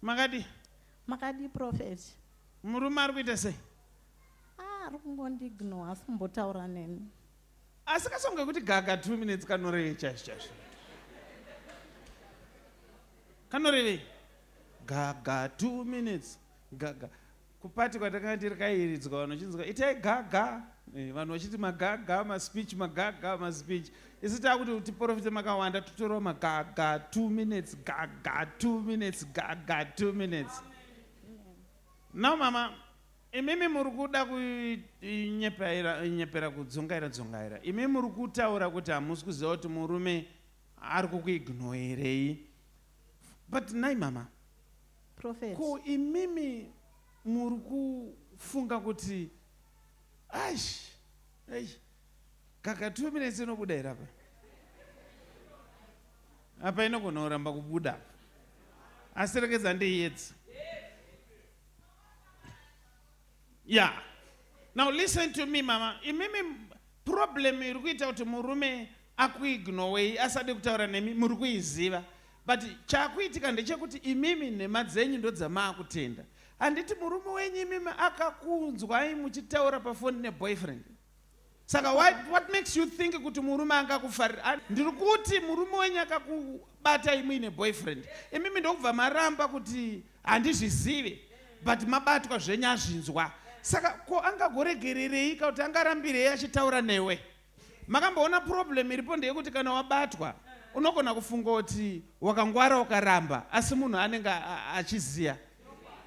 Makadii? Makadii prophet? Murume ari kuita sei? Ah, ari kungondiignore, haasi kumbotaura neni. Asi kasongo kekuti gaga two minutes kanorevei chaizvo chaizvo? Kanorevei? Gaga two minutes. Gaga. Kuparty kwandakanga ndiri kairidzwa vanhu vachinzwa itai gaga eh, vanhu vachiti magaga maspeech magaga maspeech isi takuti tiporofite makawanda totorawo magaga two minutes gaga two minutes gaga two minutes now mama imimi muri kuda kunyepera kudzungaira dzungaira imimi muri kutaura kuti hamusi kuziva kuti murume ari kukuignoerei but nai mama Prophet. Ko imimi muri kufunga kuti aish eish kaka two minutes inobuda here apa apa inogona kuramba kubuda apa asi rekedza ndeiyedza ya now listen to me mama imimi problem iri kuita kuti murume akuignowei asade kutaura nemi muri kuiziva But chakuitika ndechekuti imimi nhema dzenyu ndodzamaakutenda. Handiti murume wenyu imimi akakunzwai muchitaura pafoni neboyfriend? Saka what, what makes you think kuti murume angakufarira? Ndiri kuti murume wenyu akakubatai muine boyfriend. Imimi ndokubva maramba kuti handizvizive but mabatwa zvenyu azvinzwa. Saka ko angagoregerereika kuti angarambirei achitaura newe? Makamboona problem iripo ndeyekuti kana wabatwa unogona kufunga kuti wakangwara ukaramba asi munhu anenge a- a- achiziya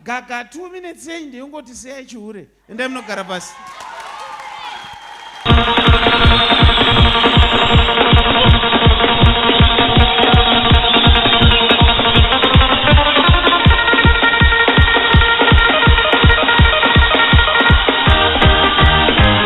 gaga two minutes yenyu ndeyongoti siyai chihure endai munogara pasi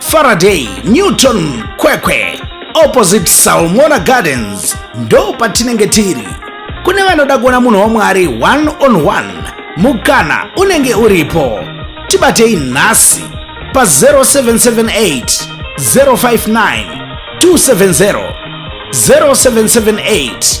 Faraday, Newton, Kwekwe, opposite Salmona Gardens ndo patinenge tiri. Kune vanoda kuona munhu waMwari one on one, mukana unenge uripo. Tibatei nhasi pa 0778 059 270 0778